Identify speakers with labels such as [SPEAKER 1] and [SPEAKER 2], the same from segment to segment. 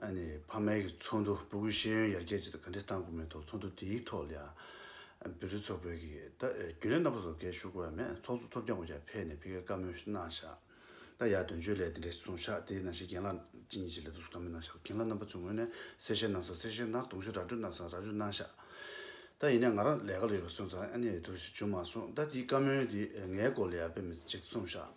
[SPEAKER 1] ཕ་མེས་ཀྱི་ཚོགས་འདུ་སྤུ་གུའི་ཤེས་ཡོན་ཡར་རྒྱས་ཆེད་དུ་ག་འདྲའི་སྟངས་དགོས་མིན་ཐོག་ཚོགས་འདུ་དེའི་ཐོག་ལ་ཡང་བེུད་རིགས་ཚོགས་བེུད་ཀྱིས་ད་རྒྱུན་ལས་རྣམ་པ་ཚོ་འགས་ཞུ་དགོས་ཡ་མེད་ཚོགས་གཙོ་ཐོབ་རྒྱག་འགོ་རྒྱག་ཕེ་ནས་ཕེ་ཀའི་བཀའ་མོལ་གནང་བཞག་ད་ཡ་དོན་བཅོས་ལས་དེ་འདྲ་ཞིག་བཟུང་བཞག་དེའི་ནང་བཞིན་རྒན་ལགས་ཅི་ཉིད་ཅིག་ལས་དོགས་ཟོ་ག་མེད་གནང་བཞག་རྒན་ལགས་རྣམ་པ་ཚོའི་ངོས་ནས་གསལ་བཤད་གནང་ས་གསལ་བཤད་གནང་དུང་ཞུ་ར་སྤྲོད་གནང་ས་ར་སྤྲོད་གནང་བཞག་ད་ཡིན་ནས་ང་རང་ལས་ཀ་ལ་ཡོད་པ་སོང་ཙང་ཨ་ནེ་ཡོད་དོ་ཞིག་བྱུང་མ་སོང་ད་དེའི་བཀའ་མོལ་དེ་ངའི་སྐོར་ལ་ཡ་ཕེ་མི་ཅིག་གསུང་བཞག་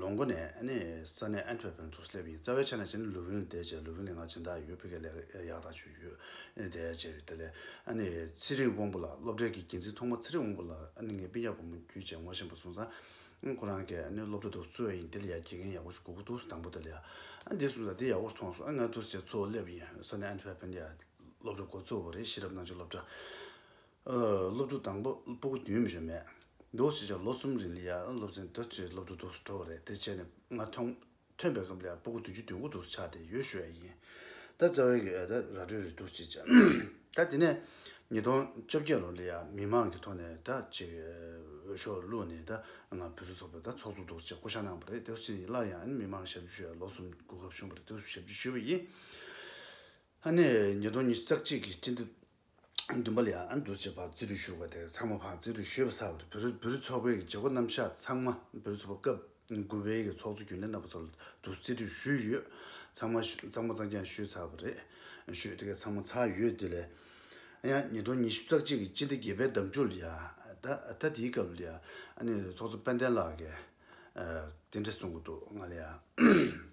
[SPEAKER 1] ལོ་འགོ་ནས་ས་གནས་ཨན་ཐོད་པན་དུ་སླེབས་ཡིན་རྩ་བའི་ཆ་ནས་བྱས་ན་ལུ་ཝིན་དེད་བྱས་ལུ་ཝིན་ལས་སྔ་ཕྱི་མཐའ་ཡོད་ཕི་ཀའི་ལས་ཀ་ཡག་དག་བྱུས་ཡོད་དེད་བྱས་ཡོད་དེ་ལས་ཚེ་རིང་དབང་པོ་ལགས་སློབ་གྲྭའི་གི་འགན་འཛིན་ཐོག་མ་ཚེ་རིང་དབང་པོ་ལགས་ངས་དཔེ་རྒྱག་བུ་མོ་རྒྱུད་བཅས་ངོ་ཤེས་པ་སོང་ཙང་ཁོ་རང་གི་སློབ་གྲྭ་དུ་གཙོས་ཡིན་དེ་ལ་ཡ་དགེ་རྒན་ཡག་པོ་ཞིག་དགོས་གོ་འདུག་དང་པོ་དེ་ལ་ཡ་དེད་སོང་ཙང་དེ་ཡག་པོར་ཐོངས་སོང་ངས་དུ་བྱས་གཙོ་བོ་སླེབས་ཡིན་ས་གནས་ཨན་ཐོད་པན་ཡ་སློབ་གྲྭ་གོ་གཙོ་བོ་རེད་ཤེས་རབ་སྣང་ཆོས་སློབ་གྲྭ། སློབ་ཕྲུག་དང་པོ་སྤོ་གི་དུས་མི་ཞོ་མེད་འདུག་ཅེས་བྱ་བ་ལོ་གསུམ་རིང་ལི་ཡ་སློབ་ཆེན་དུ་ཆེས་སློབ་ཕྲུག་སྡུག་སུ་འགྲོ་བ་རེད་དེ་བྱས་ནས་ང་ཐོན་ཐོན་པའི་སྐབས་ལི་ཡ་སྤོ་གི་དུས་ཀྱི་དུས་འགོ་འདུག་ཆགས་ཏེ་ཡོལ་ཞུ་བ་ཡིན་ད་རྩ་བའི་གི་ཨ་ད་ར་སྤྲོད་རེད་འདུག་ཅེས་བྱ་ད་དེ་ནས་ཉིས་སྟོང་བཅོ་བརྒྱད་ལོར་ལི་ཡ་མི་མང་གི་ཐོག་ནས་ད་ཅིག་འོས་ཤོག་བླུགས་ནས་ད་ང་བུ་རུ་ཚོགས་པའི་ད་ཚོགས་གཙོ་འདུག་ཅེས་བསྐོ་བཞག་གནང་བ་རེད་དེ་བ་ཕྱིན་ཡིན་སླར་ཡང་ཨ་ནི་མི་མང་ཞབས་ཞུ་ཞུ་བའི་ལོ་གསུམ་དགུ་སྐབས་བྱུང་བ་རེད་དེ་བ་ཞབས་ཞུ་ཞུས་པ་ཡིན། ཨ་ནེ་ཉིས་སྟོང་ཉིས་བརྩེགས་གཅིག་གི་སྤྱི་འདུས། བདུན་པ་ལི་ཨ་ཨན་དུ་བྱེད་པ་རྩིས་རུ་བཞུགས་པ་དེ་ཚང་མ་བར་རྩིས་རུ་བཞུད་པ་ཚར་བར་བོད་རིགས་ཚོགས་པའི་བྱེད་སྒོ་རྣམ་གཞག་ཚང་མ་བོད་ཚོགས་པ་སྐབས་དགུ་བའི་གི་ཚོགས་གཙོ་རྒྱུན་ལས་རྣམ་པ་ཚོ་ལ་དུ་རྩིས་རུ་བཞུད་ཡོད། ཚང་མ་གཙང་མ་གཙང་རྐྱང་བཞུད་ཚར་བ་རེད། བཞུད་དེ་ག་ཚང་མ་ཚར་ཡོད་དེ་ལས་ཡང་ཉིས་སྟོང་ཉི་ཤུ་རྩག་གཅིག་གི་སྤྱི་འདི་དགེ་བའི་འདམ་ཆུ་ལ་ཡང་ད་དེའི་སྐབས་ལ་ཡང་ཨ་ནེ་ཚོགས་གཙོ་དཔལ་ལྡན་ལགས་ཀྱིས་དེ་འདྲ་གསུངས་གི་འདུག་ང་ལ་ཡང།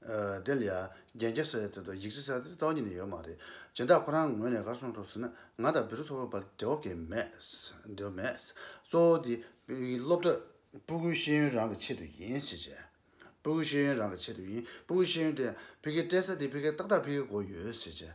[SPEAKER 1] བདེ་ལ། རྒྱན་སྐྱེད་སའི་ཚེ་དང་ཡིག་བྲིས་སའི་ཚེ་ལྟ་བ་གཉིས་ནི་ཡོད་མ་རེད། སྦྱིན་བདག་ཁོ་རང་ངོས་ནས་གར་སོང་འགྲོ་ཟེར་ན་ང་དང་བེ་རི་ཚོ་བོད་བར་འབྲེལ་བ་དགེ་མེད། འབྲེལ་བ་མེད། གཙོ་བོ་དེ། སློབ་གྲྭ། སྤུ་གུའི་ཤེས་ཡོན་རང་གི་ཆེད་དུ་ཡིན། ཞེས་བྱས། སྤུ་གུའི་ཤེས་ཡོན་རང་གི་ཆེད་དུ་ཡིན། སྤུ་གུའི་ཤེས་ཡོན་དེ། ཕི་གེ་སྤྲད་ས་དེ་ཕི་གེ་ཏག་ཏག་ཕི་གེ་གོ་ཡོད། ཞེས་བྱས།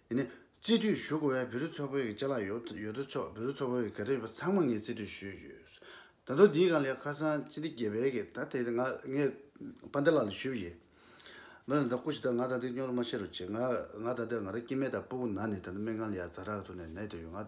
[SPEAKER 1] ཡིན། རྩིས་སྤྲོད་ཞུ་དགོས་པའི་བེ་རི་མཚོ་བོད་ཀྱི་ལྕེ་ལ་ཡོད་དོ་ཅོག་བེ་རི་མཚོ་བོད་ཀྱི་ག་རེ་ཡོད་པ་ཚང་མ་ངས་རྩིས་སྤྲོད་ཞུས་ཡོད། ད་དུང་དེའི་གང་ལས་ཁ་སང་སྤྱི་བདེ་དགེ་བལ་གྱིས་ད་དེ་ང་ངས་པཱ་འདེ་ལགས་ལ་ཞུས་ཡིན། མོས་ད་ལྟ་སྐུ་ཞིག་དང་ང་ད་ལྟ་སྙོར་མ་བྱེད་རོགས་བྱས། ང་ང་ད་ལྟ་ང་རང་སྐྱེ་མེད་དང་སྤུ་གུ་ན་ནས་ད་ལྟ་སྨན་ཁང་ལ་ཡར་ཛར་རག་ཐུག་ནས་ནད་དུ་ཡོད། ང།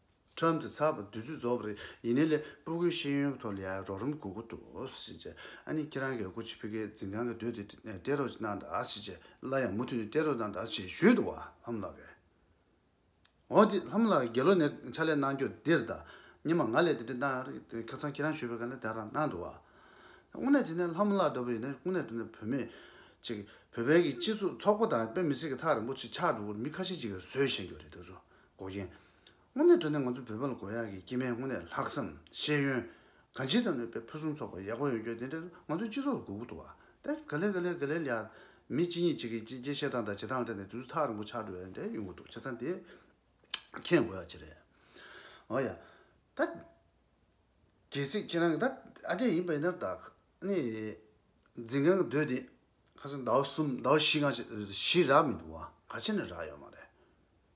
[SPEAKER 1] ཁྲོམ་དེ་ཚགས་པར་བསྡུས་ཚུལ་རྫོགས་པ་རེད་ཡིན་ནའི་ལས་སྤུ་གུའི་ཤེས་ཡོན་གྱི་ཐོག་ལ་ཡང་རོགས་རམ་དགོས་མཁོ་འདུག་ཟེར་རྗེས་ཨ་ནི་ཁྱེད་རང་གིས་ཀོ་ཆི་བྷི་ཀའི་འཛིན་ཁང་གི་སྡོད་དེ་སྤྲད་རོགས་གནང་དང་ཟེར་རྗེས་སླར་ཡང་མུ་མཐུད་ནས་སྤྲད་རོགས་གནང་དང་ཞེས་ཞུས་འདུག་ལྷམ་ལགས་ཀྱིས། འོ་དེ་ལྷམ་ལགས་དགེ་སློབ་ནས་ཕྱག་ལས་གནང་རྒྱུར་འདིར་ད་ཉི་མ་ང་ལས་དེ་འདྲའི་གནང་རེད་ཁ་ཚང་ཁྱེད་རང་ཞུས་པའི་སྐད་ལས་དེ་རང་གནང་འདུག་དངོས་གནས་དེ་ནས་ལྷམ་ལགས་འདྲ་བོ་ཡིན་ན་དངོས་གནས་དེ་ནས་བུད་མེད་ཅིག་བོད་པའི་གི་སྤྱི་ཚོགས་ཚོགས་པ་དང་དཔེ་མི་སྲིད་ཀྱི་ཐག་རིང་པོ་ཆེ་ཆགས་འགྲོ་བར་མི་ཁ་ཤས་ཅིག་གིས་བཟོས་བཞེངས་རྒྱུ་རེད་འདུག་འགོག་རྐྱེན། དངོས་གནས་བགྲོ་གླེང་ང་ཚོ་བོད་པ་ལ་དགོས་ཡག་གི་སྐྱེས་མའི་དངོས་གནས་ལྷག་བསམ་ཤེས་ཡོན། གང་ཅི་དང་ནུས་པའི་ཕུན་སུམ་ཚོགས་པ་ཡག་པོ་ཡོང་རྒྱུ་དེ་འདྲ་ང་ཚོའི་སྤྱི་ཚོགས་ལ་དགོས་གུ་དོག་ཨ་ཏེ་ག་ལེར་ག་ལེར་ག་ལེར་ཡར། མི་གཅིག་གཉིས་གཅིག་གིས་གཅིག་རྒྱའི་བཤད་སྟངས་དང་བྱེད་སྟངས་ལ་བལྟས་ནས་དུས་ཚོད་ཐག་རིང་པོ་ཆགས་འགྲོ་ཡ་འདྲ་ཡོང་གི་འདུག་བྱས་ཙང་དེ་མཁྱེན་དགོས་ཡག་ཅི་རེད། འོ་ཡ། ད། གལ་སྲིད་ཁྱེད་རང་གི་ད་ཨ་འདྲས་ཡིན་པ་ཡིན་ནར་ད། ནི། འཛིན་མཁན་གྱི་སྡོད་དེ། ཁ་སང་ཟླ་བ་གསུམ་ཟླ་བ་བཞི་སྔ་ཕྱི་བཞི་རག་མི་འདུག་བ་ག་ཕྱི་ནས་རག་ཡོད་མ་རེད།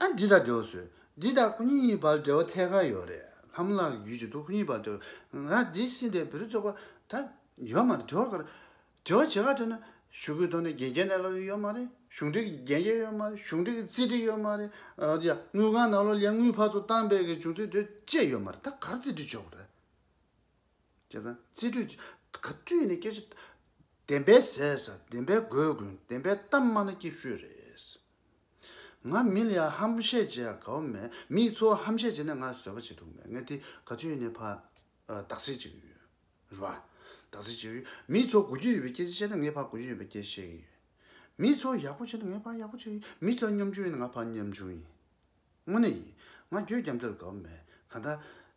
[SPEAKER 1] ཨ་འདི་དག་འབྲེལ་བ་བཟོས། འདི་དག་ཁོ་གཉིས་གཉིས་བར་འབྲེལ་བ་ཐད་ཀར་ཡོད་རེད། ལྷ་མོ་ལགས་ཀྱི་ཡུལ་གྱི་དུག་ཁོ་གཉིས་བར་འབྲེལ་བ། ཨ་འདི་སྲིད་འདིར་བེ་རི་ཚོགས་པ་ད་ཡོད་མ་རེད་དྲི་བ་ག་རེ། དྲི་བ་ཇི་ག་དྲིས་ན། ཞུ་སྐུལ་གཏོང་ནས་རྒྱལ་སྤྱིའི་གནས་ལ་ལོ་ཡོད་མ་རེད། གཞུང་འབྲེལ་གྱི་རྒྱལ་སྤྱི་ཡོད་མ་རེད་གཞུང་འབྲེལ་གྱི་རྩིས་འབྲེལ་ཡོད་མ་རེད། ཨ་ཡ་དངུལ་ཁང་ནང་ལོ་ལེན་དངུལ་ཕར་ཚུར་བཏང་སྤེལ་གྱི་བྱུང་ཚུལ་དུས་བཅད་ཡོད་མ་རེད་ད་གར་རྩིས་འབྲེལ་བྱོས་རེད། ཁྱེད་རང་རྩིས་འབྲེལ་གྱི་ག་དུས་ནས་སྐད་ཆ་བདེན་པའི་ཟས་ཟ་བདེན་པའི་དགོས་དགོས་བདེན་པའི་གཏམ་སྨྲ་ན་སྐྱིད་ཤོས་རེད། ང་མི་ལ་ཧམ་བཤད་བྱེད་དགའ་བོ་མེད། མི་ཚོ་ཧམ་བཤད་བྱས་ནས་ང་བཟོད་པ་བྱེད་ཐུབ་མེད། ངས་དེ་ག་དུས་ནས་ཕར་དག་སེལ་བྱེད་ཀྱི་ཡོད། རེད་བ། དག་སེལ་བྱེད་ཀྱི་ཡོད། མི་ཚོ་དགོད་རྒྱུ་ཡོད་པའི་སྐད་ཆ་བཤད་ན་ངས་ཕར་དགོད་རྒྱུ་ཡོད་པའི་སྐད་ཆ་བཤད་ཀྱི་ཡོད། མི་ཚོ་ཡག་པོ་བྱས་ན་ངས་ཕར་ཡག་པོ་བྱེད་ཀྱི་ཡོད། མི་ཚོ་གཉོམ་ཆུང་ཡིན་ན་ང་ཕར་གཉོམ་ཆུང་ཡིན། དངོས་གནས་ཡིན། ང་གྱོད་རྒྱམ་དེ་ལ་དགའ་བོ་མེད། གང་ལྟར།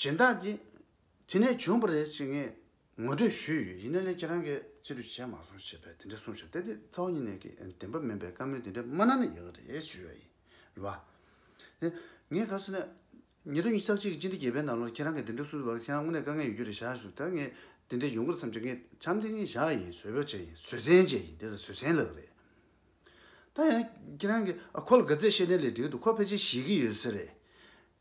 [SPEAKER 1] སྦྱིན་བདག་གིས། དེ་ནས་བྱུང་བ་རེད་ཅེས་ངས་ངོ་སྤྲོད་ཞུས་ཡོད་ཡིན་ན་ནི་ཁྱེད་རང་གིས་ཅི་ལོས་བྱས་མ་སོང་ཞེས་པས་དེ་འདྲ་གསུངས་ཤག་དེ་དེ་ཚ་བོ་གཉིས་ནས་ཀྱི་བདེན་པ་མིན་པའི་བཀའ་མོལ་དེ་འདྲ་མ་གནང་ན་ཡག་རེད་ཞུས་ཡོད་ཡིན། རེད་བ། ནས། ངས་ག་སོང་ནས། ཉིན་ཐོ་ཉིས་ཆག་གཅིག་གི་སྤྱི་འདི་བརྒྱད་པའི་ནང་ལོར་ཁྱེད་རང་གིས་དེ་འདྲ་གསུངས་ཡོད་པ་ཁྱེད་རང་དངོས་གནས་དཀའ་ངལ་ཡོད་རྒྱུ་རེད་ཤག་ཞུས་ད་ངས་དེ་འདྲ་ཡོང་གི་རེད་བསམ་རྗེས་ངས་བྱམས་དེ་ངས་བཞག་ཡིན་བཟོད་བོད་བྱས་ཡིན་བཟོད་བསྲན་བྱས་ཡིན་དེ་ལ་བཟོད་བསྲན་ལགས་རེད། ད་ཡང་ཁྱེད་རང་གིས་ཨ་ཁོ་ལ་དགའ་ཚད་བཤད་ནས་ལས་འབྲས་འདུག་ཁོ་ཕལ་ཆེར་ཤེས་ཀྱི་ཡོད་ས་རེད།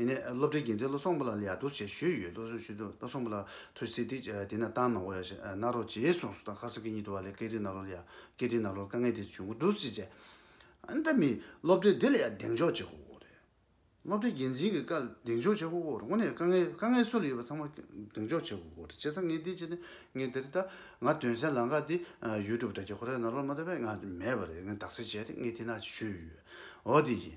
[SPEAKER 1] ཡིན་ནས་སློབ་གྲྭའི་རྒྱལ་མཚན་བློ་བཟང་པོ་ལགས་ལ་ཡར་སྡུར་བྱེད་ཞུས་ཡོད་བློ་བཟང་ཞུས་དུས་བློ་བཟང་པོ་ལགས་ཐུགས་སེ་ཐིག་དེ་ན་བཏང་མ་གོ་ཡ་ཞེས་ནཱ་རོ་རྗེའི་གསུང་སོགས་དང་ཁ་སང་གི་གཉིད་དུ་བ་ལས་སྐད་རིགས་ནཱ་རོ་ལ་ཡ་སྐད་རིགས་ནཱ་རོ་ལ་དཀའ་ངལ་དེ་བྱུང་གི་འདུག་ཅེས་བཤད། ཨ་ད་མི་སློབ་གྲྭའི་འདི་ལ་ཡ་གདེང་འཇོག་བྱེད་ཁོ་བོ་རེད། སློབ་གྲྭའི་རྒྱལ་མཚན་གྱི་བཀའ་ལ་གདེང་འཇོག་བྱེད་ཁོ་བོ་རེད་ངོ་ནས་དཀའ་ངལ་དཀའ་ངལ་སུ་ལ་ཡོད་པ་ཚང་མ་གདེང་འཇོག་བྱེད་ཁོ་བོ་རེད་བྱས་ཙང་ངས་འདི་བྱས་ནས་ངས་དེ་རེད་ད་ང་དོན་གསལ་ལང་ཀ་འདི་ཡུལ་གྲུབ་དྲ་རྒྱ་ཁོ་ར་ཡ་ནཱ་རོ་ལ་མ་ལྟོས་པས་ང་མེད་པ་རེད་ངས་དག་སེལ་བྱས་ཏེ་ངས་དེ་ན་ཞུས་ཡོད་འོ་དེ་ཡིན།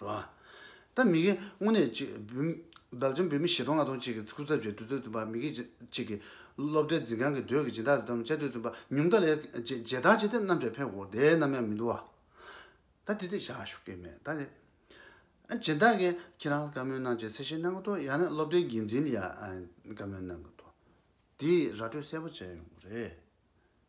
[SPEAKER 1] རོ། ད་མི་དགེ་དངོས་གནས་གཅིག། བདག་ཅན་བུད་མེད་བཞི་སྟོང་ལྔ་སྟོང་གཅིག་གི་སྐུ་ཚབ་བཅས་འདུས་སྡོད་བཙུན་པ་མི་དགེ་གཅིག་གི། སློབ་གྲྭའི་འཛིན་ཁང་གི་སྡོད་ཀྱི་སྦྱིན་བདག་དང་བཅས་སྡོད་བཙུན་པ་ཉུང་མཐའ་ལས། རྗེ་བདག་ཅེས་དེ་རྣམས་ཀྱང་ཕན་གོ། དེ་རྣམས་ཡང་མི་འདུ་བ། ད་དེ་དེ་བཞག་ཞུ་སྐད་མེད་ད། རྗེ་བདག་གིས་ཁྱེད་རང་ལ་བཀའ་མོལ་གནང་ཆེད་གསལ་བཤད་གནང་གི་འདུག་ཡང་ན་སློབ་གྲྭའི་འགན་འཛིན་ལ་ཡང་བཀའ་མོལ་གནང་གི་འདུག་དེ་ཡིས་ར་སྤྲོད་གསལ་པོ་བྱས་ཡོང་གི་རེད།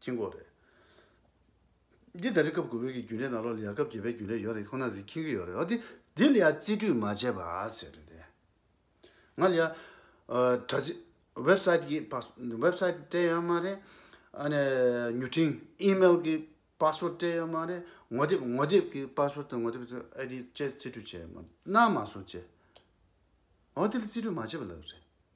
[SPEAKER 1] ཀྱི་མགོ་རེད། འདི་ལྟར་རིག་སྐབས་དགུ་བོད་ཀྱི་རྒྱུན་ལས་ནང་ལོགས་ལ་ཡ་སྐབས་བརྒྱད་པའི་རྒྱུན་ལས་ཡོད་རེད་ཁོ་ན་རིག་མཁྱེན་གྱི་ཡོད་རེད་འོ་དེ་དེ་ལ་ཡ་རྩིས་སྤྲོད་མ་བྱས་པ་ཟེར་རེད་དེ། ང་ལ་ཡ་དྲ་ཚིགས Website གི Website སྤྲད་ཡོད་མ་རེད། ཨ་ནས་མྱུར་འཕྲིན Email གི Password སྤྲད་ཡོད་མ་རེད། ངོ་དེབ་ངོ་དེབ་ཀྱི Password དང་ངོ་དེབ་ཀྱི ID བཅས་རྩིས་སྤྲོད་བྱས་ཡོད་མ་རེད་གནང་མ་སོང་བཅས། འོ་དེ་ལ་རྩིས་སྤྲོད་མ་བྱས་པ་ལབ་རེད།